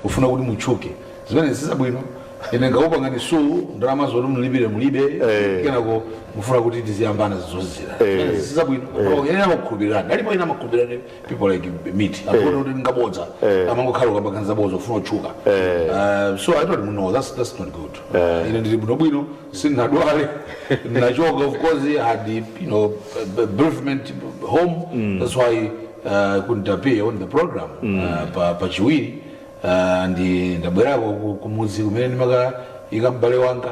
kufuna kuti mutchuke zimenezi sizabwino ine ngakupangani suu ndalama zoti mlipire mulibe Eh. kenako mufuna kuti tiziyambana zozizira Eh. zimenezi sizabwino ine omwe amakukhulupirirani alipo ena amakukhulupirirani people like me akuona kuti ndi abodza Eh. amangokhala akupanga zabodza ufuna kutchuka Eh. Uh, so i don't know that's, that's not good ine ndili bwinobwino sindinadwale ndinachoka of course i had you know bereavement home mm. that's why uh, couldn't appear on the program mm. uh, pa, pa chiwiri uh, ndi ndabwerako ku- kumudzi kumene ndimakaika m'bale wanga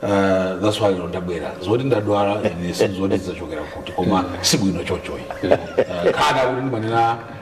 uh, that's why ndabwera zoti ndadwala ine sindidziwa zachokera kuti koma sibwino chochoyi uh, kana kuti ndimanena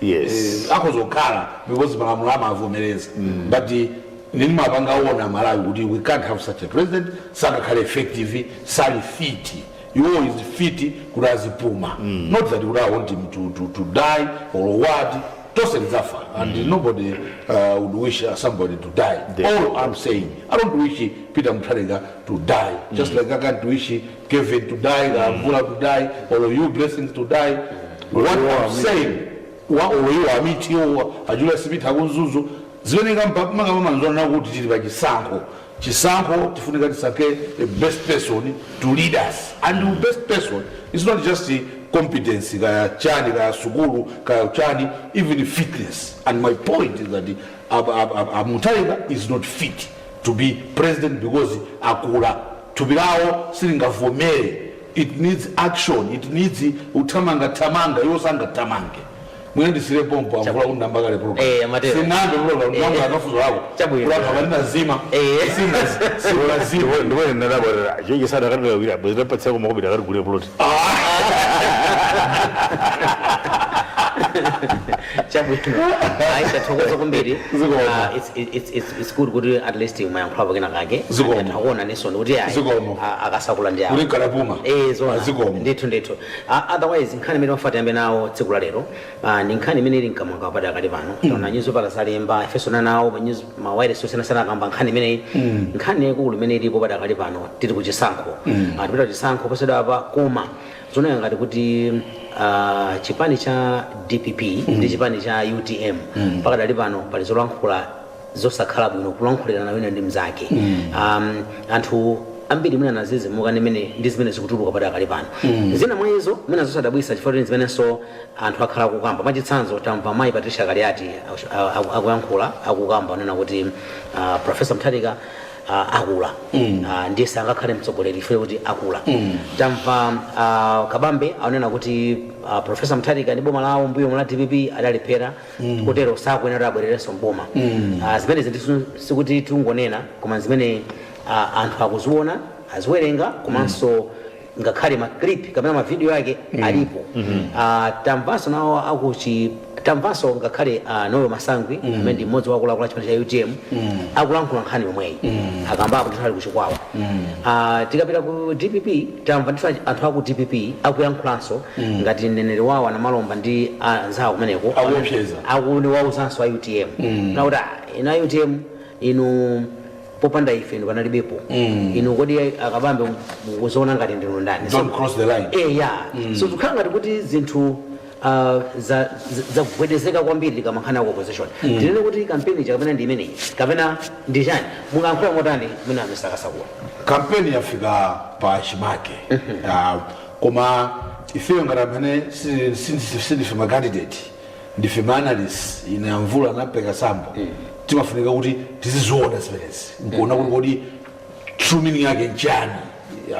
Yes. Eh, akhoza kukhala because malamulo amavomereza but eh, nini mapanga aona malawi kuti we can't have such a president sangakhale effective sali fit iwo is fit kuti azipuma not that kuti awant him to, to, to die or what tose lidzafa and nobody uh, would wish uh, somebody to die Definitely. all i'm saying i don't wish peter mutharika to die just like i can't wish kevin to die kaya mvula to die or you blessings to die what i'm saying wa oyiwa amiti owa ajula sipita akunzuzu zimene makamamamzona kuti tili pa chisankho chisankho tifunika tisankhe a best person to lead us and the best person is not just competence kaya chani kaya sukulu kaya chani even fitness and my point is that uh, uh, uh, uh, mutaiga is not fit to be president because akula thupi lawo silingavomere it needs action it needs uthamanga thamanga iwo sangathamange mwina ndisire pompo mavuto ndayamba kale program Eh, amatero. Sindinayambe program Eh. ndayamba mafunso ako Chabwino. kulapa balina zima Eh. sinazima ndipo ndipo ndinadabwa chichi sadakatira kuira bwezera patsako makobidi akati gule plot chabwino tathokoza kwambiri Zikomo. Ah, it's- it's- it's- it's good kuti at least umayankhulapo kena kake Zikomo. Anthu akuona nisoni kuti ayi, Zikomo. ah, akusakula ndi awo. Kuti kalapuma. Eh, zoona. Zikomo. ndithu ndithu Ah, otherwise nkhani imene tikufuna tiyambe nawo tsiku la lero Ah, ndi nkhani imene ili mkamwamkamwa padakali pano taona nyuzipala zalemba ifenso nawo ma news- ma wireless osiyanasiyana akamba nkhani imeneyi nkhani yaikulu imene ilipo padakali pano tili ku chisankho Ah, tipita chisankho posachedwapa koma zikuoneka ngati kuti ah, chipani cha dpp ndi chipani cha utm pakadali pano pali zolankhula zosakhala bwino kulankhulirana wina ndi mnzake um, anthu ambiri mwina adzidzimuka ndi mene- ndi zimene zikutuluka padakali pano zina mwa izo mwina zosadabwisa chifukwa kuti zimenenso anthu akhala akukamba mwachitsanzo tamva mayi patricia kaliati aku- a- aku- akuyankhula akukamba anena kuti ah, profesa mtharika ah, akula Ah, ndiye sangakhale mtsogoleri chifukwa kuti akula tamva ah, kabambe anena kuti ah, profesa mtharika ndi boma lawo mbuyomu la dpp adalephera mm. kotero sakuyenera kuti abwererenso m'boma mm. uh, zimenezi ndithu sikuti tikungonena koma zimene uh, anthu akuziona aziwerenga komanso mm ngakhale maclip kapena mavidiyo yake mm. alipo mm -hmm. uh, tamvanso nawo akuchi tamvanso ngakhale uh, noel masangwi mm. amene ndi mmodzi wa akuluakulu a chipani cha utm mm. akulankhula nkhani yomweyi mm. akambapo ndithu ali kuchikwawa mm. uh, tikapita ku dpp Tamva ndithu anthu aku dpp akuyankhulanso ngati mneneri wawo a Namalomba ndi anzawo kumeneko Akuopseza. akuwauzanso a utm kunena kuti "Ah, inu a utm inu popanda ife inu panalibepo inu kodi akabambe mukuziona ngati ndinu ndani Don't cross the line. eya so zikukhala ngati kuti zinthu uh, za- za- zagwedezeka kwambiri makamaka nkhani ya ku opposition ndinene kuti kampeni ija kapena ndi imeneyi kapena ndi chani mungayankhula motani mwina nzosakayikitsa kunena kampeni yafika pa chimake Ah, koma ifeyo ngati amene si- si- si- sindife macandidate ndife maanalyst ine amvula anapeka sambo timafunika kuti tiziziona zimenezi nkuona kuti kodi true meaning yake nchani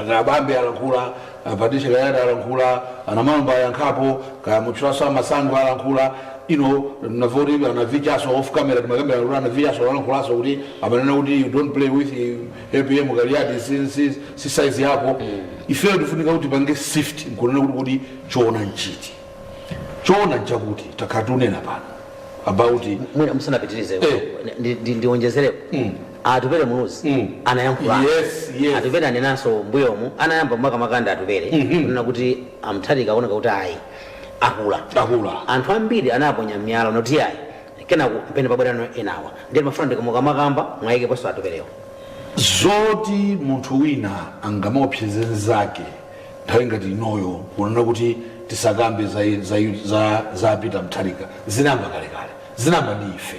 akabambe alankhula ah, patricia kaliati alankhula anamalomba ayankhapo kaya mutchulaso amasangwi alankhula ine ndamva kuti anavichaso off camera timakambira kuti anavichaso alankhulaso kuti amanena kuti you don't play with eh, apm kaliati si, si, si size yako ifeyo tifunika kuti tipange sift nkunena kuti kuti choona nchiti choona nchakuti takhala tikunena pano about mwina musanapitirize Eh. ndi- ndi- ndionjezereko Mm. atupele muluzi Mm. anayankhula Yes, yes. atupele anenanso mbuyomu anayamba makamaka ndi atupele Mhm. kunena kuti amutharika akuoneka kuti ayi akula akula anthu ambiri anaponya miyala nkuti ayi kenako mpene pabwerano enawa ndiye ndimafuna ndika- mukamakamba muwayikeponso atupelewo zoti munthu wina angamaopseze nzake Nthawi ngati inoyo kunena kuti tisakambe za, za, za, za Peter Mutharika zinayamba kalekale zinayamba ndi ife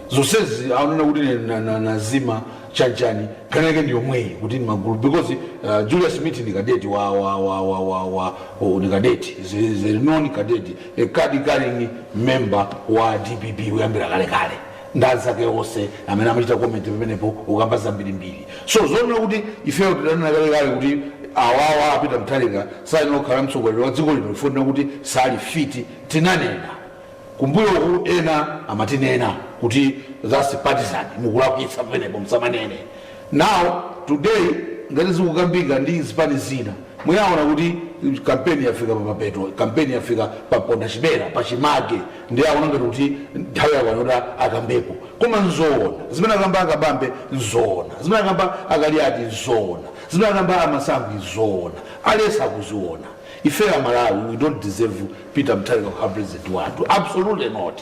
zonsezi aonena kuti ine na- na- nazima chanchani nkhani yake ndi yomweyi kuti ndi magulu because uh, Julius Mithi ndi kadeti wa, wa, wa, wa, wa, wa oh, ndi kadeti is a- is a known kadeti a card carrying member wa DPP kuyambira kalekale ndi anzake onse amene amachita comment pamenepo ukamba zambirimbiri so zoona kuti ifeyo tidanena kalekale kuti awawa a Peter Mutharika sayenera kukhala mtsogoleri wa dziko lino chifukwa chonena kuti sali fiti tinanena kumbuyoku ena amatinena kuti that's partisan mukulakwitsa pamenepo msamanene Now today ngati zikukambika ndi zipani zina mwina aona kuti campaign yafika pa mapeto, campaign yafika pa mponda chimera, pa chimake ndiye aona ngati kuti nthawi yakwana yoti akambepo. Koma nzoona zimene akamba a Kabambe? Nzoona zimene akamba a Kaliati? Nzoona zimene akamba a Masangwi? Nzoona. Aliyense akuziona. Ifeyo a Malawi we don't deserve Peter Mutharika kukhala president wathu, absolutely not.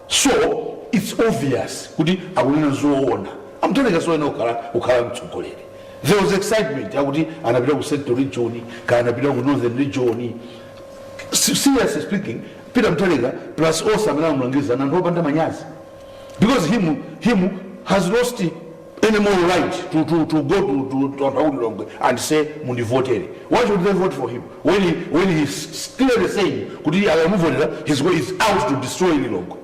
So its obvious kuti akunena zoona amutharika soyenera kukhala mtsogoleri there was excitement yakuti anapita ku central region kaya anapita ku northern region Se- seriously speaking peter mutharika plus onse amene amulangiza ndi anthu opanda manyazi because him him has lost any more right to, to, to go to, to, to anthu akulilongwe and say mundivotere why should they vote for him when, he, when he's clearly saying kuti akamuvotera his way is out to destroy lilongwe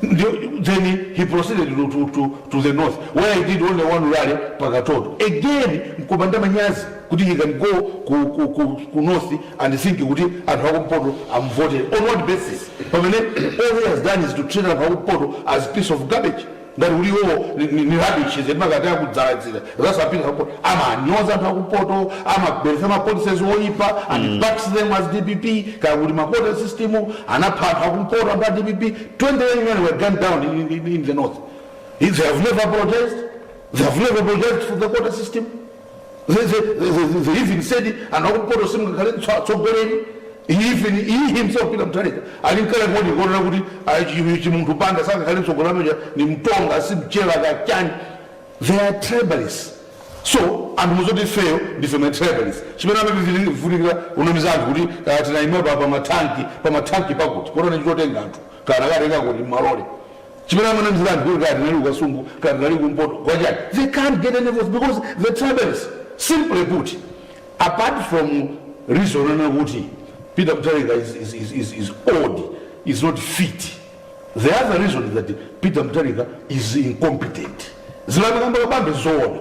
Ndio- then he proceeded to, to, to, to the north where he did only one rally pakatoto again mkupanda manyazi kuti he can go ku, ku, ku, ku north and think kuti anthu akumpoto amuvotere on what basis pamene all he has done is to treat anthu akumpoto as piece of garbage ngati kuti iwowo ni- ni ni rubbish zedi makati akudzaladzira zasapinga po amanyoza anthu akumpoto amabweretsa ma policies oyipa and backs them as dpp kaya kuti ma quota system anapha anthu akumpoto anthu a dpp 20 young men were gunned down in, in, in the north they have never apologized they have never apologized for the quota system They, they, they, they, they even said anthu akumpoto simungakhale tso- atsogoleri even iye himself peter mutharika ali mkale muja kunena kuti ah, chi- Chimunthu Banda sangakhale mtsogoleri ameneja ndi mtonga si mchewa kachani they are tribalists so ndiye muzati ifeyo ndife ma tribalists chimene amavivutikira unamiza anthu kuti ah, tinaima pa pa matanki pa matanki pakuti kuona akutenga anthu kaya akatenga m'malole Chimene amanamizira anthu kuti kaya tinali ku Kasungu, kaya tinali ku mpoto, kwachani? They can't get any votes because they're tribalists simply put, apart from reason yonena kuti Peter Mutharika is, is, is, is, is old, is not fit. The other reason is that Peter Mutharika is incompetent. Zimene amakamba Kabambe nzoona.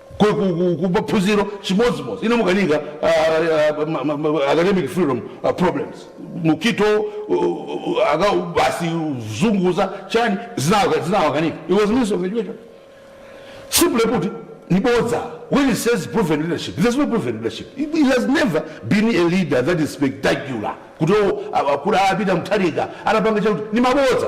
ku, ku, ku, ku maphunziro chimodzimodzi inamukanika uh, ma- ma- ma- academic freedom uh, problems Mukhito uh, uh, aka basi zunguza chani zinawa- zinawakanika he was minister of education simply put ndi bodza when he says proven leadership there's no proven leadership he he has never been a leader that is spectacular kuti o akuti a Peter Mutharika anapanga chakuti ndi mabodza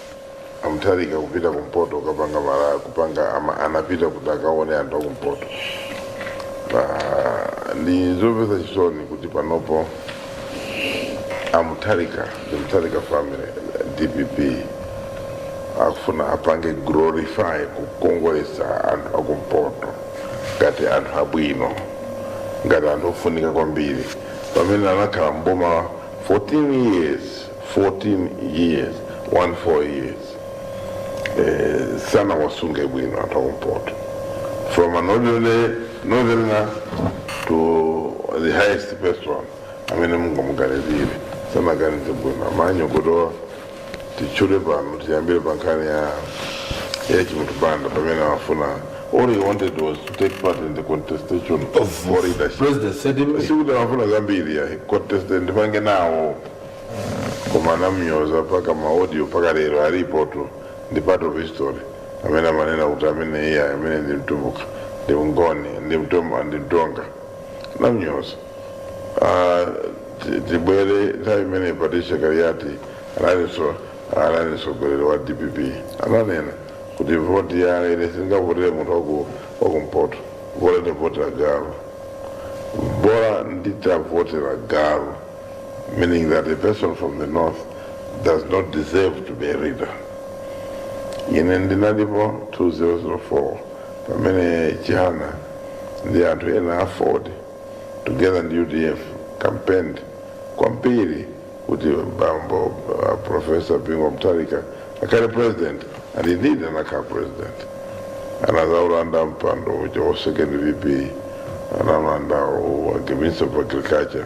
amutharika kupita kumpoto kukapanga mara kupanga ama, anapita kuti akaone anthu akumpoto pa ndi zomvetsa chisoni kuti panopo amutharika the mutharika family dpp akufuna apange glorify kukongoletsa anthu akumpoto ngati anthu abwino ngati anthu ofunika kwambiri pamene anakhala mboma 14 years 14 years 1 4 years eh, sanawasunge bwino anthu akumpoto from an ordinary northerner to the highest person amene mungamuganizire sanaganize bwino amanyoza kutowa titchule pano tiyambire pa nkhani ya ya Chimunthu Banda pamene amafuna all he wanted was to take part in the contestation of leadership presidency, that's it. sikuti amafuna zambiri ya contest ndipange nawo koma anamnyoza mpaka maaudio mpaka lero alipotu ndi part of history amene amanena kuti amene iye amene ndi mtumbuka ndi mngoni ndi mtumba ndi mtonga anamnyoza Ah, ti- tibwere nthawi imene patricia kaliati analinso anali mneneri wa dpp ananena kuti voti ya ine singavotere munthu waku- wakumpoto bola nditavotera galu bola nditavotera galu meaning that a person from the north does not deserve to be a leader ine ndinalipo 2004 pamene chihana ndi anthu ena a aford together ndi udf campaigned kwambiri kuti bambo uh, professor bingu mutharika akhale president and indeed anakhala president anadzawalanda mpando uja wa second vp analanda wa minister of agriculture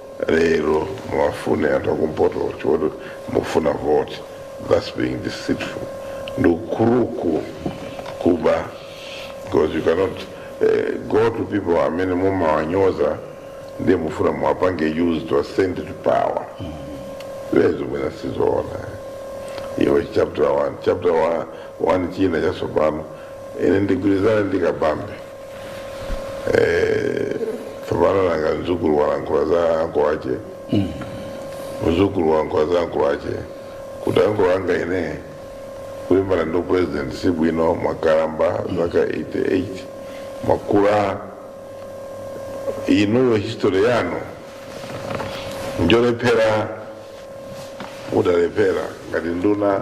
lero muwafune anthu akumpoto poti mufuna vote thats being deceitful ndi ukuluku kuba because you cannot eh, go to people amene mumawanyoza ndiye mufuna muwapange use to ascend to power izo mwina sizoona iwe chapter 1 chapter 1 china chatsopano ine ndigwirizana ndi kabambe Eh, tsopano nanga mdzukulu walankhula za ankolo ake mdzukulu walankhula za ankolo ake kuti ankolo anga ine kulimbana ndi president si bwino mwakalamba zaka 88 mwakula inuyo history yanu njolephera mudalephera ngati nduna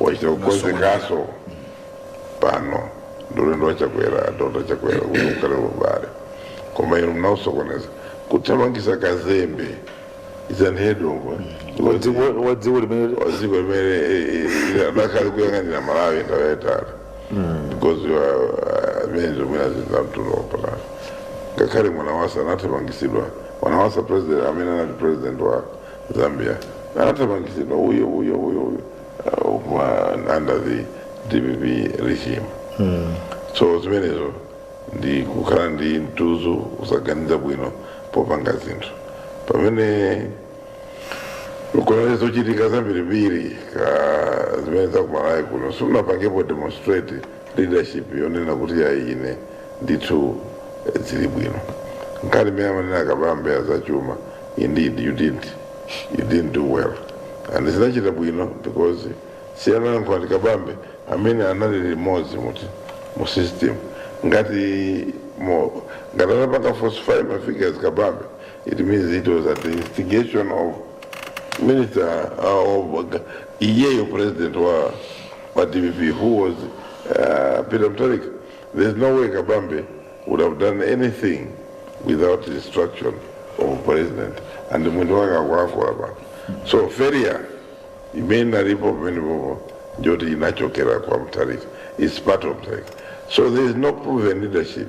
wachita kukonzekanso pano ndi ulendo wa chakwera dr chakwera kuti ukhale ubale koma inu mnausokoneza kuthamangisa kazembe is an head of Wadziwo- wadziwo limene wa dziko limene adakali kuyang'anira malawi nthawi yaitali because amene zomwe zinamtunda wapatali ngakhale mwanawasa anathamangitsidwa mwanawasa president amene anali president wa Zambia anathamangitsidwa uyo uyo uyo uyo uh, mwa- under the dpp regime so zimenezo ndi kukhala ndi mtudzu kusaganiza bwino popanga zinthu pamene kuona zochitika zambirimbiri ka zimene zakumalawi kuno simunapangepo demonstrate leadership yonena kuti yayi ine ndithu eh, zili bwino nkhani imene amanena kabambe azachuma indeed you didn't you didn't do well and sanachita bwino because si analankhula ndi kabambe amene anali limodzi muti mu system ngati mo ngati anapanga falsify ma figures kabambe it means it was at the instigation of minister uh, of iyeyo president wa pa dpp who was uh, Peter Mutharika there's no way Kabambe would have done anything without the instruction of president and mwendo wake akulankhula pano so failure imene inalipo pamene popo njoti inachokera kwa Mutharika it's part of Mutharika so there is no proven leadership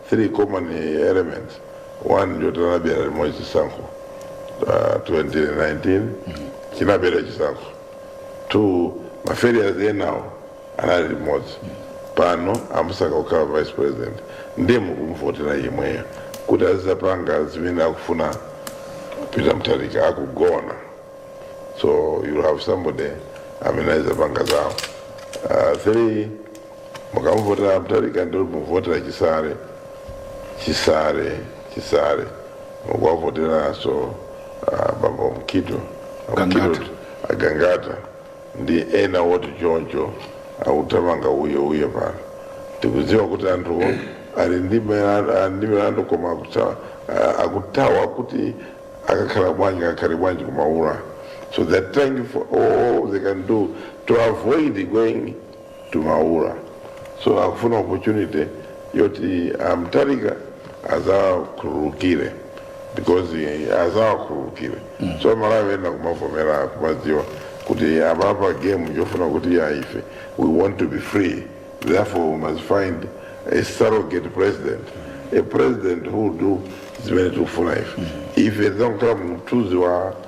3 common elements 1 njoti anabera limozi chisankho uh, 2019 chinabera chisankho 2 mafailures enawo anali limodzi pano amusankha kukhala vice president ndiye mukumvotera yemweyo kuti azizapanga zimene akufuna peter mutharika akugona so you'll have somebody amene azizapanga zawo uh, three mukamuvotera mutharika ndiye mukuvotera chisale chisale chisale mukuwavoteranso uh, bambo mukhito Gangata. Mukhito, agangata ndi ena woti choncho akuthamanga uye uye pano tikudziwa kuti anthuwo ali ndi milandu- ali ndi milandu koma akutha- ah, akuthawa kuti akakhala bwanji akakhale bwanji kumaula so they're trying for all they can do to avoid going to Maula. So akufuna opportunity yoti amutharika azawakhululukire because azawakhululukire so malawi ena kumavomera kumadziwa kuti apapa game njofuna kuti ya ife we want to be free therefore we must find a surrogate president a president who will do zimene tikufuna ife ife tidzangokhala mumthunzi wa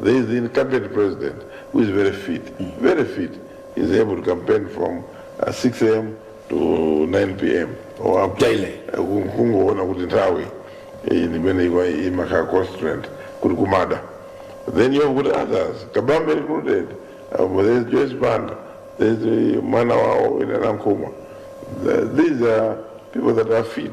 There is the incumbent president who is very fit, very fit. He's able to campaign from uh, 6 a.m. to 9 p.m. or up to Daily. Ku- kungoona kuti nthawi iyi ndimene iwa- imakhala constraint kuti kumada then you have got others kabambe recruited um, there's joyce banda there's uh, mwana wawo ina nankhumwa Th- these are people that are fit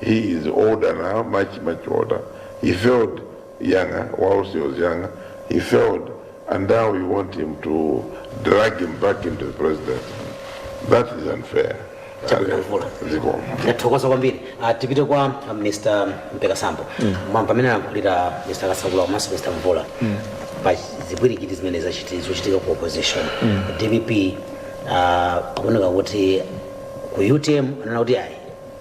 He is older now, much, much older. He failed younger, whilst he was younger. He failed, and now we want him to drag him back into the presidency. That is unfair. Chakulavula. Zikomo. tathokoza kwambiri Ah, tipite kwa ah, mr mpeka sambo Ma- pamene anayankhulira mr kasakula komanso mr mvula pa zipwirikiti zimene zachiti- zochitika ku opposition dpp ah, akuoneka kuti ku utm anena kuti ayi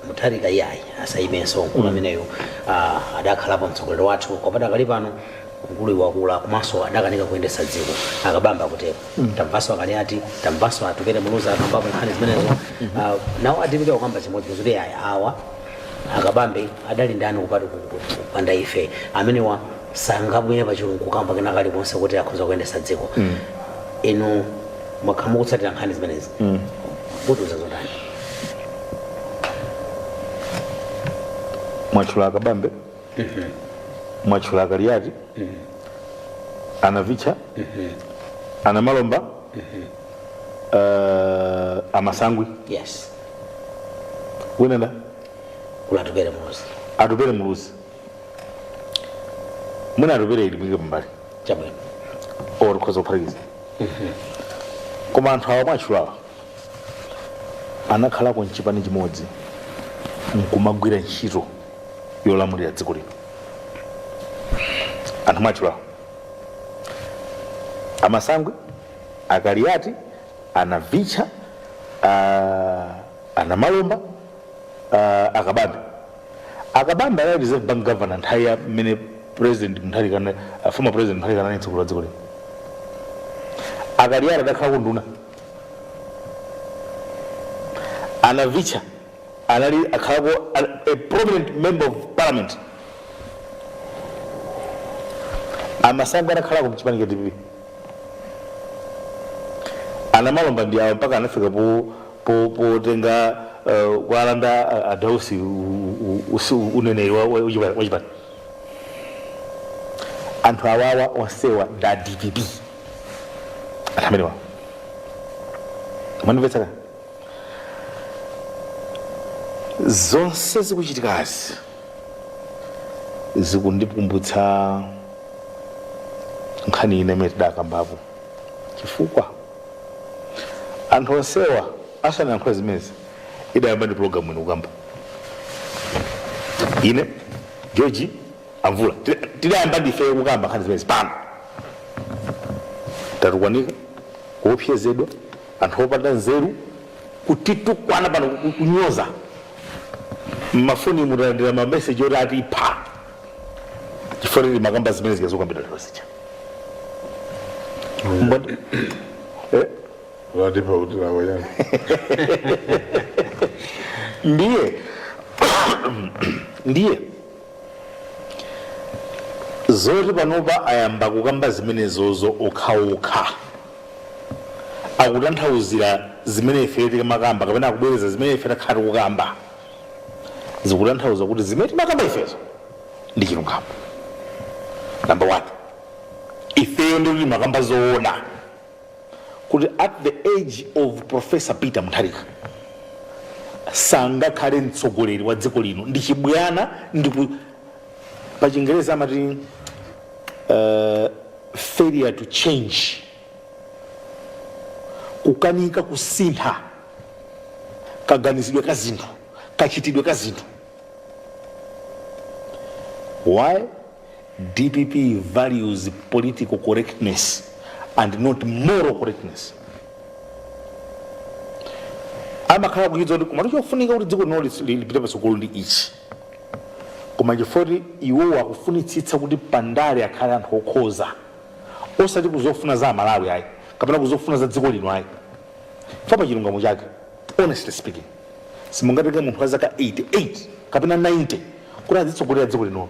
mutharika iyayi asayimenso mkulu ameneyu uh, adakhalapo mtsogoleri wathu koma padakali pano mkuluyu wakula komanso adakanika kuyendesa dziko akabambe akutero tamvaso akaliati tamvaso atupele muluzi akambapo nkhani zimenezo uh, nawo adapita kukamba chimodzi kuti iyayi awa akabambe adali ndani ku party kupanda ife amenewa sangabwere pachigulu kukamba kena kalikonse kuti akhoza kuyendesa dziko inu mwakhala mukutsatira nkhani zimenezi mutiuza zotani mwatchula akabambe mwatchula akaliyati anavitcha anamalomba eh, amasangwi yes wina ndi atupele muluzi atupele muluzi mwina atupele timuike pambali chabwino or tikhoza kuphatikiza koma anthu awa mwatchulawa anakhalako mchipani chimodzi nkumagwira ntchito yolamulira dziko lino anthu mwatchulawo a Masangwi a Kaliati a Navicha ah, a Namalomba ah, a Kabambe a Kabambe anali reserve bank governor nthawi ya mmene president Mutharika former president Mutharika ankatsogolera dziko lino a Kaliati adakhalako nduna a Navicha anali akhalako a, a prominent member of parliament a Masangwi anakhalako mchipani cha dpp a Namalomba ndi awo mpaka anafika po- po- potenga eh, kualanda a- a Dausi u- u- usi- uneneri wa- wa- wachipani anthu awawa onsewa ndi a dpp anthu amenewa mwandimvetsa kaya zonse zikuchitikazi zikundikumbutsa nkhani ina imene tidakambapo chifukwa anthu onsewa asanayankhule zimenezi idayamba ndi pulogalamu ino kukamba ine George Amvula tidayamba ndife kukamba nkhani zimenezi pano tatukwanika kuopsezedwa anthu opanda nzeru kutitukwana pano ku- kunyoza mmafoni talandira mameseji oti atipha chifukwa timakamba zimene zikudzakambidwa lero zija Mbona- Eh? atipha kuti nawo yani ndiye ndiye zoti panopa ayamba kukamba zimenezozo okhaokha akutanthauzira zimene ife timakamba kapena akubwereza zimene ife takhala tikukamba zikutanthauza kuti zimene timakamba ifezo ndi chilungamo namba one ifeyo ndikuti timakamba zoona kuti at the age of Professor Peter Mutharika sangakhale mtsogoleri wa dziko lino ndi chibwana ndipo pa chingereza amati uh, failure to change kukanika kusintha kaganizidwe ka zinthu kachitidwe ka zinthu why Dpp values political correctness and not moral correctness. amakhala akudziwa kuti koma chofunika kuti dziko lino lis- li- lipite patsogolo ndi ichi koma chifukwa kuti iwowo akufunitsitsa kuti pandale akhale anthu okhoza osati kuzofuna za amalawi ayi kapena kuzofuna za dziko lino ayi chifukwa pachilungamo chake honestly speaking simungatenge munthu wa zaka 88 kapena 90 kuti azitsogolera dziko linono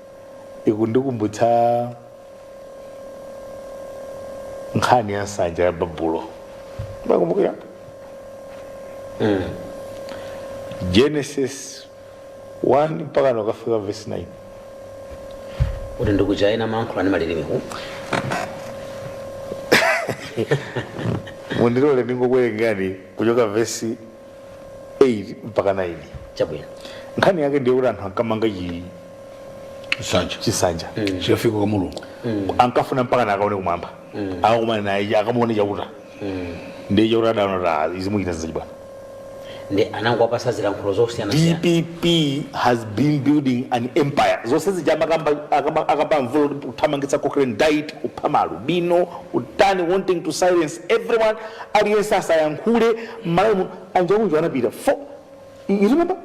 ikundikumbutsa nkhani ya nsanja ya babulo mukukumbukira genesis 1 mpakana kukafika verse 9 kuti ndi kuja ena amayankhula ndi malilime ku mundilole ndingokuwerengani kuchoka vesi 8 mpaka 9 chabwino nkhani yake ndiye kuti anthu ankamanga chi- nsanja chinsanja chikafika kwa mulungu ankafuna mpakana akaone kumwamba akakumane naye akamuone chauta ndiye chauta adaona kuti izi muchita zachibwana ndiye anangowapasa zilankhulo zosiyanasiyana dpp has been building an empire zonse zija amakamba- akamba- akamba mvula kuti kuthamangitsa cochrane dyet kupha maalubino utani wanting to silence everyone aliyense asayankhule mmalawi muno anjauju anapita if you remember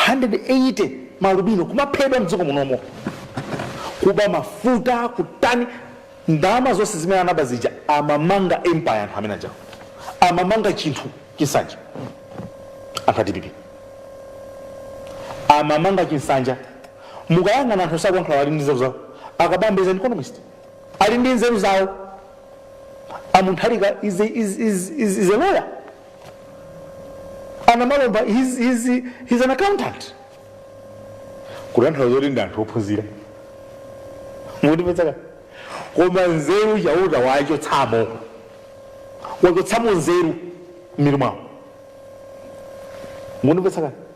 180 ma alubino kumaphedwa mdziko munomo kuba mafuta kutani ndalama zonse zimene anaba zija amamanga empire anthu amene ajawo amamanga chinthu chinsanja anthu a dpp amamanga chinsanja mukayang'ana anthu onse akuyankhula ali ndi nzeru zawo akabambe is an economist ali ndi nzeru zawo amutharika is, a- is, is, is, is a lawyer anamalomba he's, he's, he's an accountant kutanthauza zoti ndi anthu ophunzira mukundimvetsa kaya koma nzeru chauta wachotsamo wachotsamo nzeru mmitu mwawo mukundimvetsa kaya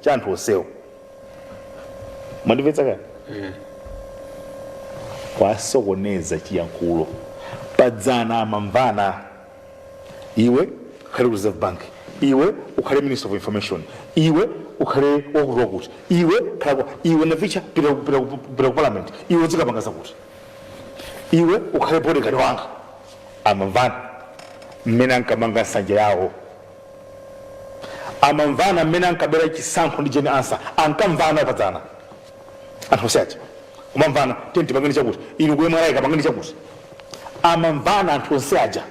cha anthu onsewo mwandimvetsa kaya kuwasokoneza chiyankhulo padzana amamvana iwe ukhale ku reserve bank iwe ukhale minister of information iwe ukhale wakuti wakuti iwe khala kwa- iwe navicha pita ku- pita ku- pita ku parliament iwe uzikapanga zakuti iwe ukhale bodyguard wanga amamvana mmene ankamanga nsanja yawo amamvana mmene ankabera chisankho ndi jane ansah ankamvana padzana anthu onse aja kumamvana tiye tipangeni chakuti inu ku mra kapangeni chakuti amamvana anthu onse aja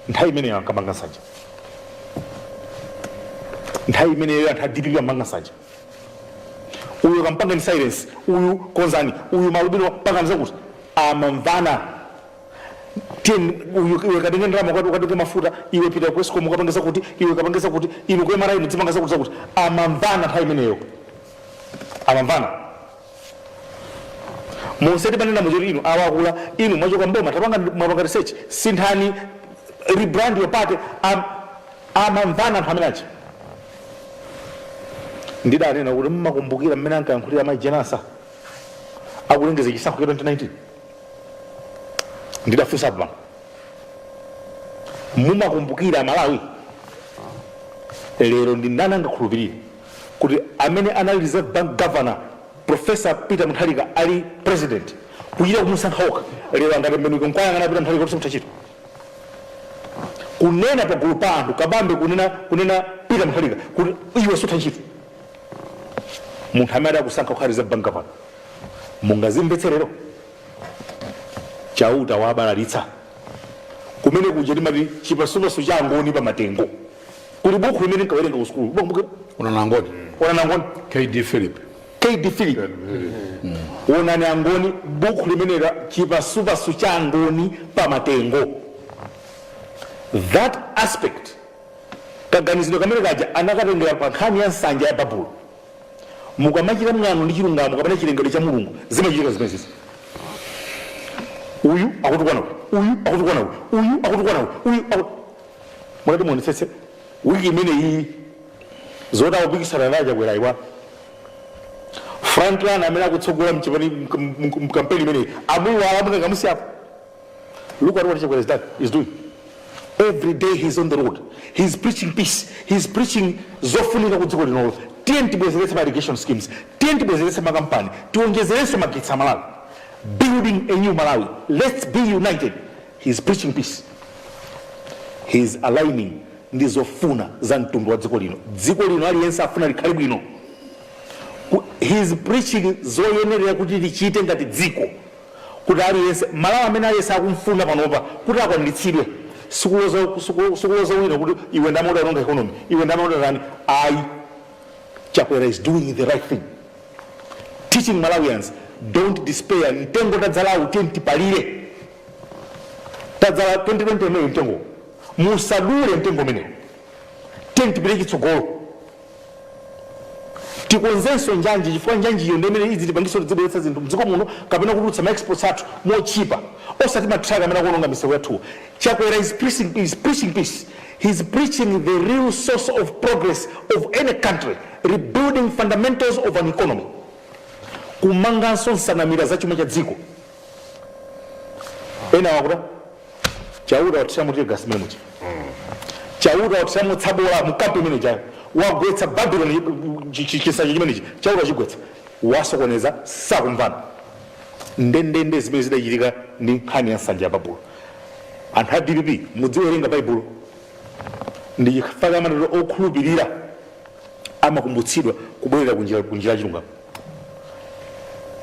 nthawi imeneyo ankapanga nsanja nthawi imeneyo anthu a dpp amapanga nsanja uyu kampangani silence uyu konzani uyu maalubino pangani zakuti amamvana tiyeni uyu iwe katenge ndalama ukati ukatenge mafuta iwe pita ku escom ukapange zakuti iwe kapange zakuti inu ku mra mudzipanga zakuti zakuti amamvana nthawi imeneyo amamvana monse timanena muja kuti inu awakula inu mwachoka mboma tapanga mwapanga research sinthani rebrand your party am- amamvana anthu amene achi ndidanena kuti mmakumbukira mmene ankayankhulira mayi jane ansah akulengeza chisankho cha 2019 ndidafunsa pano mumakumbukira malawi lero ndi ndani angakhulupirire kuti amene anali reserve bank governor professor peter mutharika ali president kuchita kumusankha okha lero angatembenuke nkwayang'ana peter mutharika kuti mutachita kunena pagulu pa anthu kabambe kunena peter mutharika kuti iwe sutha ntchito munthu amene adakusankha kukhala reserve bank governor mungazimvetse lero chauta wabalalitsa kumene kuja timati chipasupasu cha angoni pa matengo kuli bukhu limene nkawerenga ku sukulu Bukhu- onani angoni kd philip kd philip onani angoni bukhu limene la chipasupasu cha angoni pa matengo that aspect kaganizidwe kamene kaja anakatengera pa nkhani ya nsanja ya babulo Mukamachita mwano ndi chilungamo kapena chilengedwe cha Mulungu, zimachitika zimenezi. Uyu akutukwana uyu, uyu akutukwana uyu, uyu akutukwana uyu, uyu aku... Mutati muonetsetse wiki imene iyi zoti akupikisana ndi a Chakwera ayiwala Franklin amene akutsogola mkampeni imeneyi amuyiwala mwina angomusiyapo Look at what Chakwera is, done, is doing. Every day he's on the road. He's preaching peace. He's preaching zofunika ku dziko linolo. Tiyeni tibwezeretse ma irrigation schemes. Tiyeni tibwezeretse makampani. Tiwonjezeretse magetsi a Malawi. Building a new Malawi. Let's be united. He's preaching peace. He's aligning ndi zofuna za mtundu wa dziko lino. Dziko lino aliyense afuna likhale bwino. Ku- He's preaching zoyenerera kuti tichite ngati dziko. kuti aliyense, Malawi amene aliyense akumfuna panopa kuti akwaniritsidwe. Sikuloza, siku, sikuloza wina kuti iwe ndamene udaononga economy, iwe ndamene udatani. Ayi, Chakwera is doing the right thing, teaching Malawians don't despair. Mtengo tadzalawu tiyeni tipalire, tadzala 2020 imeneyo mtengo, musadule mtengo umenewo, tiyeni tipite chitsogolo. tikonzenso njanji chifukwa njanjiyo ndi imene idzitipangitsa kuti tidzibweretsa zinthu mdziko muno kapena kutulutsa ma exports athu motchipa osati matraka amene akuononga misewu yathuwo chakwera is preaching, is preaching peace he's preaching the real source of progress of any country rebuilding fundamentals of an economy kumanganso nsanamira za chuma cha dziko ena akuti chauta wathiramo tear gas mmene muja chauta wathiramo tsabola mkampu imene ijayo wagwetsa babylon chi- chi- chinsanja chimenechi chauta wachigwetsa wasokoneza sakumvana ndendende zimene zidachitika ndi nkhani ya nsanja ya babulo anthu a dpp mudziwerenga baibulo ndi chifukwa chake amatero okhulupirira amakumbutsidwa kubwerera kunjira kunjira ya chilungamo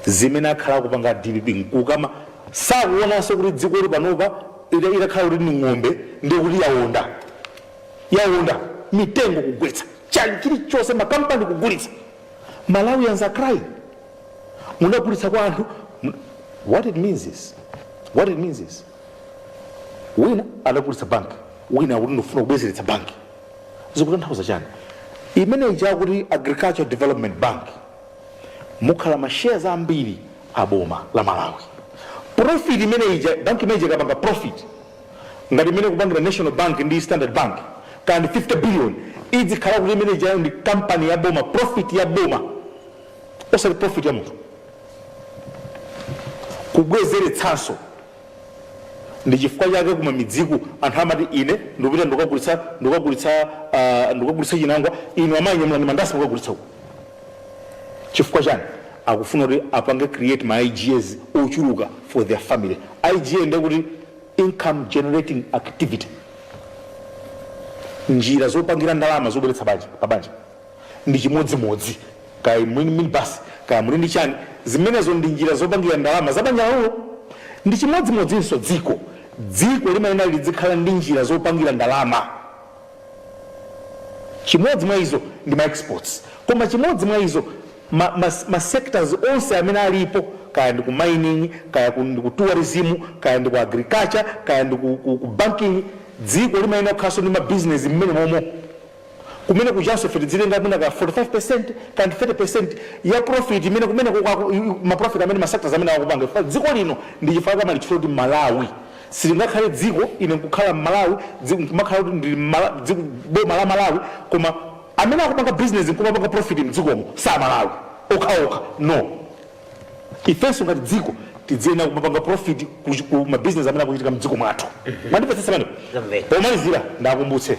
zimene akhala akupanga dpp nkukama sakuonanso kuti dzikoli panopa ita- itakhala kuti ni ng'ombe ndiye kuti yaonda yaonda mitengo kugwetsa chani chilichonse makampani kugulitsa malawians are crying munagulitsa kwa anthu mu- what it means is what it means is wina adagulitsa banki wina akuti ndifuna kubwezeretsa banki zikutanthauza chani imene ija akuti agricultural development bank mukhala ma shares ambiri a boma la malawi profit imene ija bank imene ija ikapanga profit ngati mmene ikupangira national bank ndi standard bank kaya ndi 50 billion idzikhala kuti imene ijayo ndi kampani ya boma profit ya boma osati profit ya munthu kubwezeretsanso ndichifukwa chake kumamidziku anthu amati ine ndikupita ndikagulitsa ndikagulitsa uh, ndikagulitsa chinangwa inu amayi nyamulani mandasi mukagulitse uko chifukwa chani akufuna kuti apange create ma igas ochuluka for their family iga ndekuti income generating activity njira zopangira ndalama zobweretsa banja pa banja ndi chimodzimodzi kaya inu muli ndi minibus kaya muli ndi chani zimenezo ndi njira zopangira ndalama za banja lanulo ndi chimodzimodzinso dziko dziko limayenera lidzikhala ndi njira zopangira ndalama chimodzi mwa izo ndi ma exports koma chimodzi mwa izo ma, ma, ma sectors onse amene alipo kaya ndi ku mining kaya ku, ndi ku tourism kaya ndi ku agriculture kaya ndi ku, ku, ku banking dziko limayenera kukhalanso ndi mabizinesi mmenemomo Kumene kujanso ife tizitenga mwina ka 45% ka 30% ya profit imene kumene kuko aku- i- i- ma profit amene ma sectors amene akupanga chifukwa dziko lino ndi chifukwa kuma- chifukwa choti Malawi silingakhale dziko i- nkukhala Malawi dziko nkumakhala kuti ndi Mala- dziko boma la Malawi koma amene akupanga business nkumapanga profit mdzikomo si aMalawi okhaokha no ifenso ngati dziko tiziyenera kumapanga profit ku ku mabizinesi amene akuchitika mdziko mwathu mwandimvetsetsa pano Zamveka. pomalizira ndiwakumbutse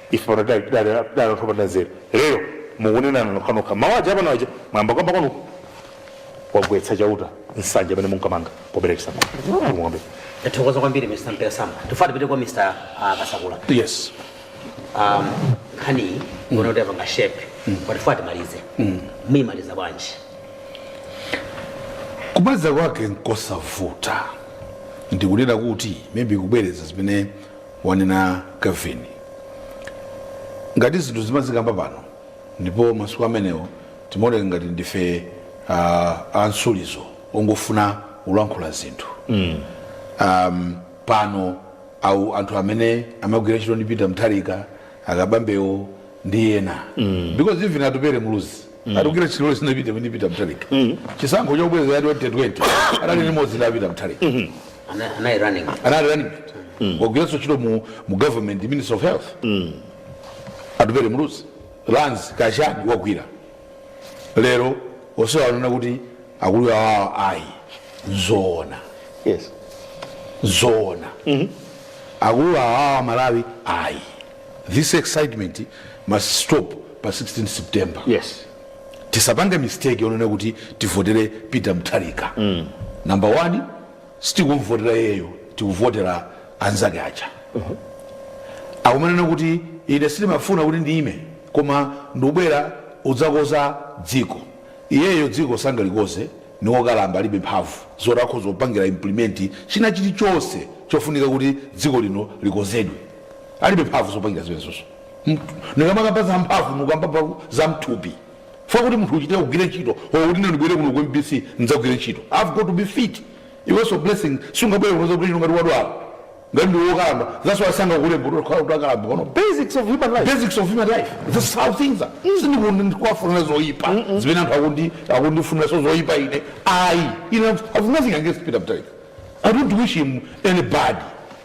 Ife pano tidali tidali tidali anthu opanda nzeru, lero mukunenana nokhanokha mawu aja apano aja mwayamba kukamba kwanuko. Wagwetsa Chauta nsanja imene munkamanga pobera chisankho. Mulungu kwambiri. Ndathokoza kwambiri Mr. Mpira Sam. Tufuna tipite kwa Mr. ah, Kasakula. Yes. Um, nkhani iyi nkuona kuti apanga shape. Koma tufuna timalize. Muyimaliza bwanji? kumaliza kwake nkosavuta ndikunena kuti maybe kubwereza zimene wanena Kevin. Ngati zinthu zimazikamba pano ndipo masiku amenewo timaoneka ngati ndife uh, ansuulizo ongofuna kulankhula zinthu mm. um, pano awo anthu amene amagwira ntchito ndi Peter Mutharika a Kabambewo ndi ena mm. because even Atupele Muluzi wagwira ntchito si ndi Peter Mutharika chisankho chobwereza cha 2020 anali limodzi ndi Peter Mutharika Ana- anali running anali running wagwiranso ntchito mu, mu government minister of health Atupele Muluzi lands kachani wagwira lero onse akunena kuti akulu awawo ayi zoona yes zoona akulu awawo malawi ayi this excitement must stop pa 16 september yes tisapange mistake yonena kuti tivotere peter mutharika mm. number one sitikumvotera iyeyo tikuvotera anzake aja uh-huh. akumanena kuti ine sindimafuna kuti ndiyime koma ndikubwera udzakoza dziko iyeyo dziko sangalikoze ndi wokalamba alibe mphamvu zoti akhoza kupangira implement china chilichonse chofunika kuti dziko lino likozedwe alibe mphamvu zopangira zimenezozo ndikamakamba za mphamvu ndikukamba za mthupi chifukwa kuti munthu uchite kugwira ntchito or kuti ndibwere kuno ku mbc ndidzagwire ntchito i've got to be fit iwenso blessing sungabwere kuno kuti ngati wadwala ngati ndiwe wokalamba that's why sangakulembe utakhala kuti wakalamba kuno basics of human life basics of human life this is how things are sikuti ndikuwafunira zoyipa zimene anthu akundi akundifuniranso zoyipa ine ayi ine i've nothing against peter mutharika i don't wish him any bad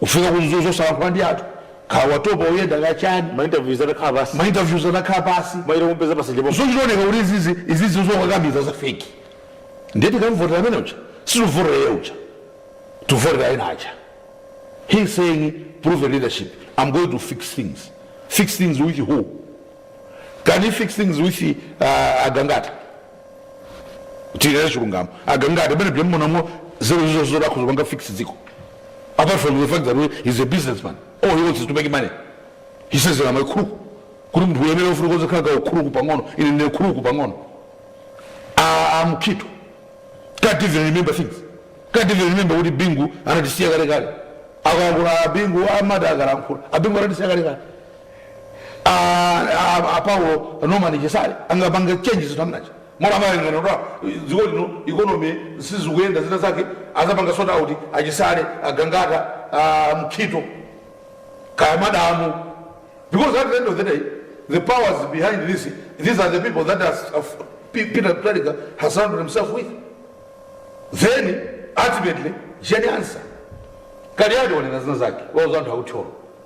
Ufika ku Mzuzu osalankhula ndi anthu. Ukhala watopa uyenda ka chiyani? Ma interviews atakhala pansi. Ma interviews atakhala pansi. Mwayira kumupeza pa nsanje pompo. Zonse zioneka kuti izizi zokakamiza za fake. Ndiye tikamuvotera amene uja? Sitivotera iye uja. Tivotera ena aja. He is saying proven leadership. I'm going to fix things. Fix things with who? Can he fix things with uh, Agangata? tiyera chilungamo a Gangata amene bwemumuonamo nzeru zo zolankhula zopanga fix dziko apart from the fact that we- he's a businessman all he wants is to make money he says I'm a crook kuti munthu uyenera kufuna kukhalako ka ukuluku pang'ono ine ndine kuluku pang'ono Ah, a Mukhito can't even remember things can't even remember kuti Bingu anatisiya kale kale akalankhula abingu amati akalankhula abingu anatisiya kale kale a, a, a Paulos Norman Chisale angapange change zinthu so much, mmene amayang'ana kuti dziko lino ikonomi sizikuyenda zina zake azapanga sort out a Chisale a Gangata a Mukhito kaya madamu because at the end of the day the powers behind this these are the people that has, of, P- peter Mutharika has surrounded himself with then ultimately Jane Ansah Kaliati wanena zina zake wauza anthu a ku Thyolo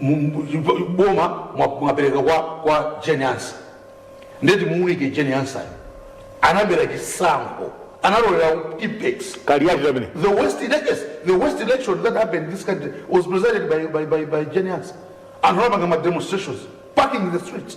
mu- mu- boma mwa- mwapereka kwa, kwa Jane Ansah nde timuunike Jane Ansah anabera chisankho analolera Tippex kaliyati tamene The worst elections, the worst election that happened in this country was presided by by by, by Jane Ansah. Anthu anapanga ma demonstrations, packing the streets.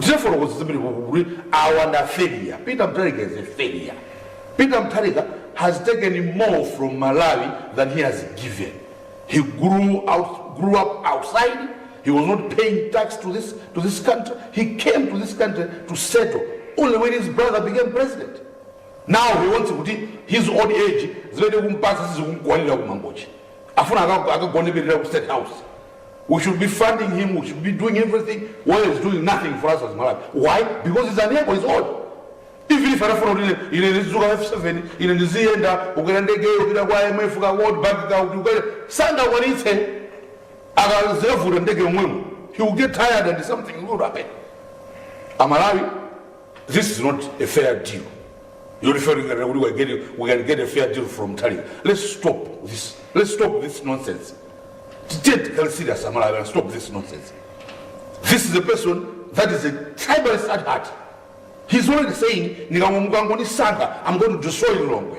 Tinafotokoza zambiri ku kuti awa ndi a failure. Peter Mutharika is a failure. Peter Mutharika has taken more from Malawi than he has given. He grew out, grew up outside. He was not paying tax to this, to this country. He came to this country to settle only when his brother became president. Now he wants kuti his old age zimene kumpasa sizikumkwanira kumangochi. Afuna akagoneperera ku state house. we should be funding him, we should be doing everything, while he's doing nothing for us as Malawi. Why? Because he's unable, he's old. Even if anafuna kuti ine ndizuka F7, ine ndiziyenda kukwera ndege yopita kwa IMF ka World Bank ka kukwera sangakwanitse akazevuta ndege yomwemo. He will get tired and something will happen. Amalawi this is not a fair deal yoti fe tinganena kuti we get a- we can get a fair deal from muthalika let's stop this let's stop this nonsense tiye tikhale serious amalawi and stop this nonsense this is a person that is a tribalist at heart he's already saying ndikangomukangonisankha i'm going to destroy lilongwe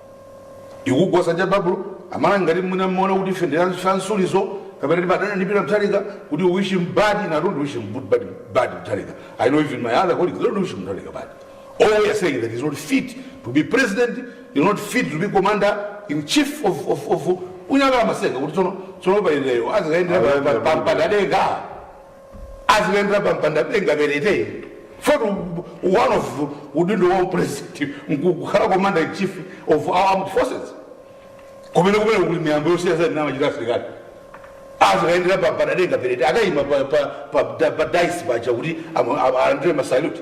ikugwa nsanja ya Babulo amalawi ngati mwina mmaona kuti ife ndi anthu amsuliso kapena timadana ndi Peter Mutharika kuti wish him bad and i don't wish him good bad, bad Mutharika i know even my other colleagues don't wish him Mutharika bad all we are saying that he's not fit to be president he's not fit to be commander in chief of, of, of mungokhala mumaseka kuti tsono tsono pa iyeyo azikayendera Ayende pa- pa- pa- pamdadada azikayendera pampanda denga perete for one of udindo wa upresident nkukhala commander in chief of our armed forces kumene kumene kuli miyambo yosiyanasiyana imene amachita asilikali azikayendera pampanda denga perete akayima pa- pa- pa- pa- pa dais paja kuti amu- amu- alandire masalute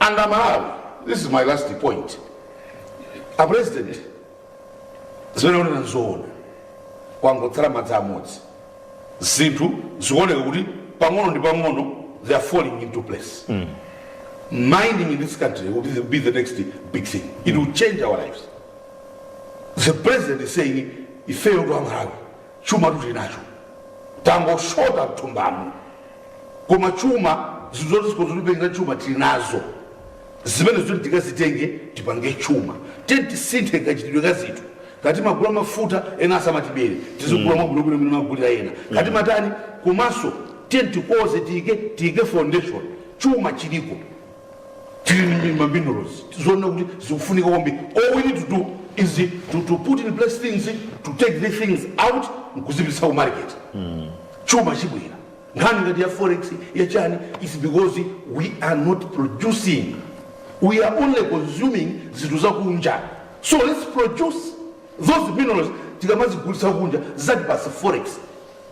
and amalawi this is my last point a president zimene akunena nzoona kwangotsala madzi amodzi zinthu zikuoneka kuti pang'ono ndi pang'ono they are falling into place mining in this country will be the, be the next big thing it will change our lives the president is saying ifeyo ndi aMalawi Chumatu tili nacho tangoshota mthumbamu koma chuma zinthu zoti zikhoze kutipangila chuma tili nazo zimenezo tiyeni tikazitenge tipange chuma tiyeni tisinthe kachitidwe ka zinthu kati magula mafuta ena asamatibere tizigula mwabwinobwino mmene amagulira ena kati matani komanso tiyeni tikonze tiyike tiyike foundation chuma chiliko tili ndi maminerals tikuona kuti zikufunika kwambiri all we need to do is to, to put in place things to take these things out nkuzipitisa ku market chuma chibwera nkhani ngati ya forex ya chani is because we are not producing we are only consuming zinthu zakunja so let's produce those minerals tikamazigulitsa kunja zitipatsa forex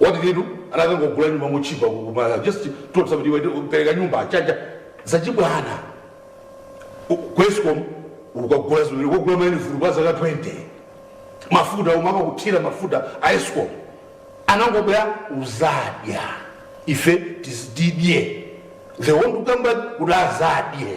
what did he do anakangogula nyumba motchipa komanso just told kuti iwe pereka nyumba chabe zachibwana U- ku escom ukagula zimene ukagula ma uniform kwa zaka 20 mafuta umakathira mafuta a escom anangobwera uzadya ife tizididye ndiye wina kukamba kuti azadye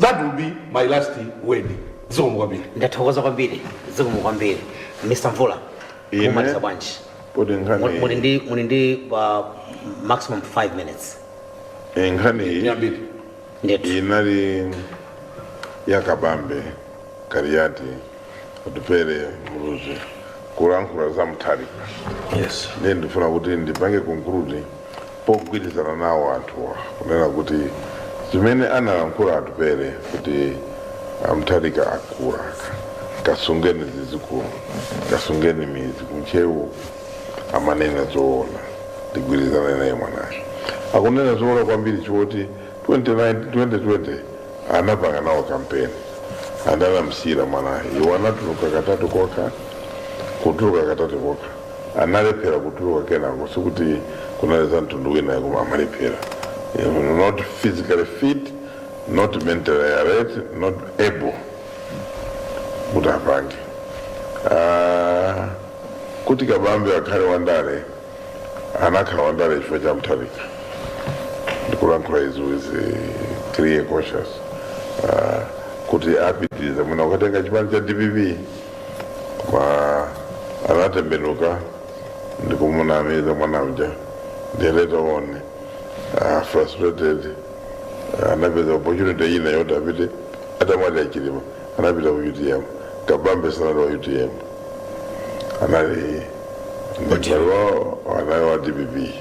that will be my last word zikomo kwambiri ndathokoza kwambiri zikomo kwambiri mr mvula Inu mumaliza bwanji poti Muli- muli nkhani ndi muli ndi uh, maximum 5 minutes eh, nkhani iyi yambiri ndithu inali ya kabambe kaliati atupele muluzi kulankhula za mutharika yes ndiye ndifuna kuti ndipange conclude pogwirizana nawo anthuwa kunena kuti zimene analankhula atupele kuti a mutharika akula kasungeni zizikulu kasungeni midzi kuntcheu amanena zoona ndigwirizana naye mwanayo akunena zoona kwambiri choti 2019 2020 anapanga nawo kampeni adamusiyira mwanayo iwo anatuluka katatu kokha kutuluka katatu kokha analephera kutuluka kenako sikuti kunali za mtundu wina koma amalephera You know, not physically fit not mentally alert not able kuti apange Ah, kuti kabambe akhale wandale anakhala wandale chifukwa cha mutharika ndikulankhula izi with eh, clear conscience Ah, kuti apitiriza mwana udzatenga chipani cha dpp kwa anatembenuka nkumunamiza mwana uja they later on uh, frustrated uh, anapeza opportunity ina yoti apite atamwalira achilima anapita ku utm kabambe sanali wa utm anali ndikalowo anali wa dpp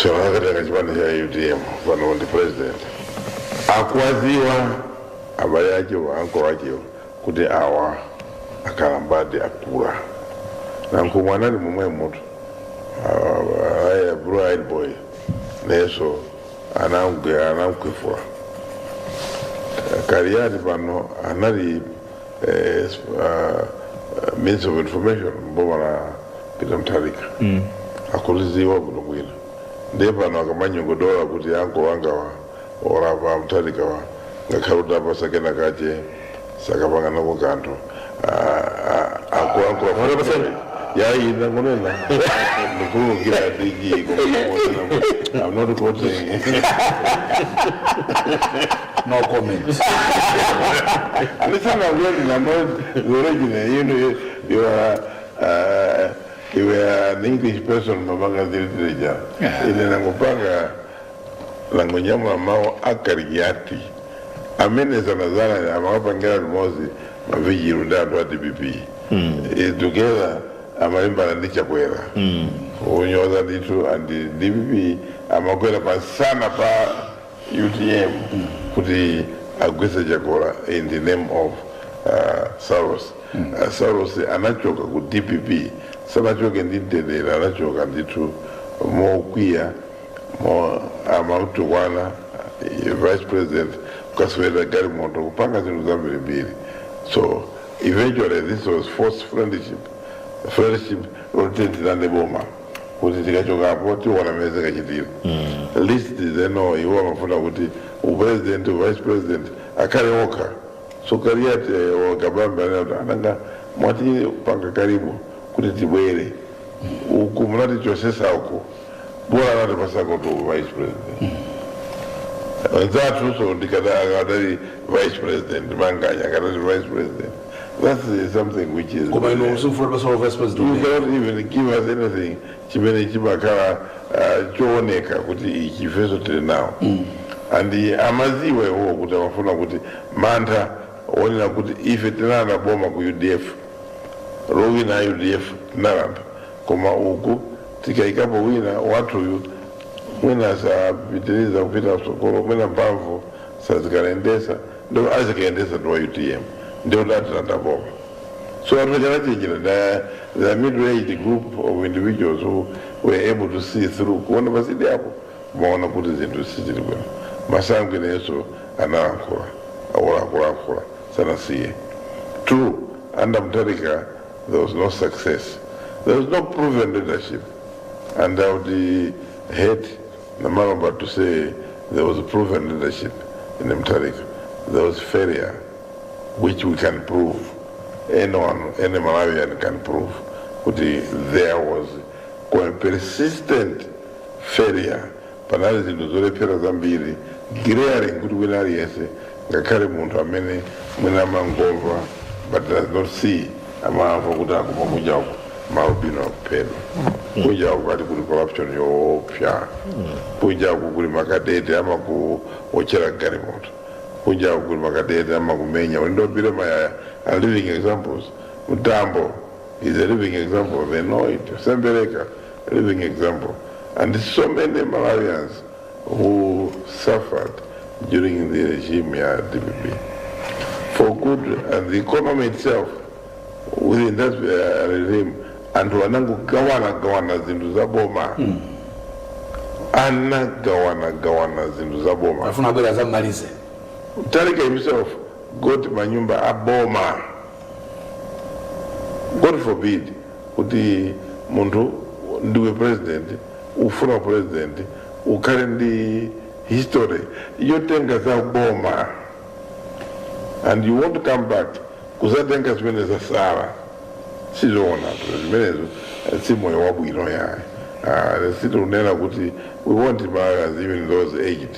so akatenga chipani cha utm pano ndi president akuwaziwa abale ache anko wache kuti awa akalambadi akula nanko mwana ali momwemotu aya blue eyed boy neso anamgwe anamkwefula kaliyati pano anali eh, s- ah, ah, minister of information mboma la pita mthalika akuliziwa bwino bwino ndiye pano akamanyogodola kuti anko wangawa orapa mthalikawa ngakhale utawapasa kena kache sakapanga nako kanthu akulankhula yaina kunena ndikuukira dg koma i'm not quoting No comment. Listen, I'm getting annoyed. The original, you know, you, you are, uh, you are an English person, Mabanga Zilitreja. Yeah. Ile namupanga langonyama mao akariati. Amene sana sana amawapa ngera limozi maviji runda ndo ati bibi. Mm. E, together amalimba na ndicha kwera. Mm. Unyoza nditu and DPP amakwera pa sana pa utm kuti agwese chakwera in the name of uh, saulos uh, saulos anachoka ku dpp sanachoke ndi mtendere anachoka ndithu mokwiya mo amamutukwana eh, vice president kukaswera galimoto kupanga zinthu zambirimbiri so eventually this was forced friendship friendship yoti tilande boma kuti tikachokapo tiona mmene zikachitira list zeno iwo amafuna kuti upresident uvice president akhale okha so kaliyati wakabambe anati ananga mwatipanga karibu kuti tibwere uku munatichosesa uku bola anatipasakotu uvice president anzathu so ndikadali vice president manganya akadali vice president That is something which is. koma inu msifuna pesa wa vice president umenewo. You cannot even give us anything chimene chimakhala uh, chooneka kuti ichi ifeso tili nawo and amaziwa iwowo kuti amafuna kuti mantha onena kuti ife tinalanda boma ku udf lowina udf tinalanda koma uku tikayikapo wina wathuyu mwina sapitiriza kupita msogolo mwina mphamvu sazikayendesa ndipo azikayendetsatu wa utm ndiye kuti atilanda boma so anthu anachenjera the, the middle aged group of individuals who were able to see through kuona pasidya apo amaona kuti zinthu sizili bwino masangwi nayenso analankhula akulakulankhula sanasiye true under mtarika there was no success there was no proven leadership and i would uh, hate Namalo but to say there was proven leadership in Mutharika, there was failure which we can prove. Anyone, any Malawian can prove kuti there was a persistent failure panali zinthu zolephera zambiri glaring kuti wina aliyense ngakhale munthu amene mwina amangomva but does not see amamva kuti akuma kunja uku malubino akuphedwa kunja uku ali kuli corruption yoopsa kunja uku kuli makadete amakuotchera galimoto kunja uku kuli makadete amakumenya Ulindopire Mayaya are living examples Mtambo is a living example they know it Sembereka living example and so many Malawians who suffered during the regime ya DPP God forbid and the economy itself within that uh, regime anthu anangogawana gawana zinthu za boma anagawana gawana zinthu za boma afuna abwere adzamalize Mutharika himself got manyumba a boma God forbid kuti munthu ndiwe president ufuna president ukhale ndi history yotenga za boma and you want to come back kudzatenga zimene zatsala sizoona zimenezo eh, si moyo wabwino yayi Ah, sitikunena kuti we want Malawians even those aged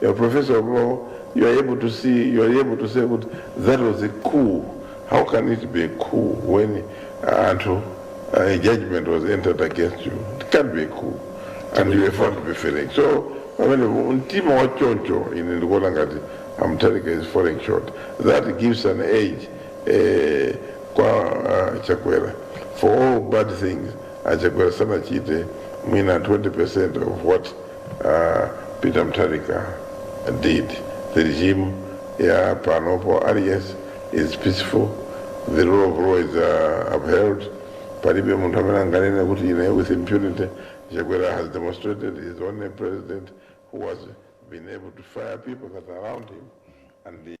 Your professor of law, you are able to see, you are able to say kuti that was a coup. How can it be a coup when uh, anthu uh, a judgment was entered against you? It can't be a coup. And you were found to be failing. So, pamene mtima wa choncho ine ndikuona ngati amtalika is falling short. That gives an edge eh, kwa uh, Chakwera for all bad things. Achakwera sanachite mwina 20% of what a peter mutharika did the regime ya panopo aliyense is peaceful the rule of law is uh, upheld palibe munthu amene anganene kuti ine with impunity chakwera has demonstrated his only president who has been able to fire people that are around him and the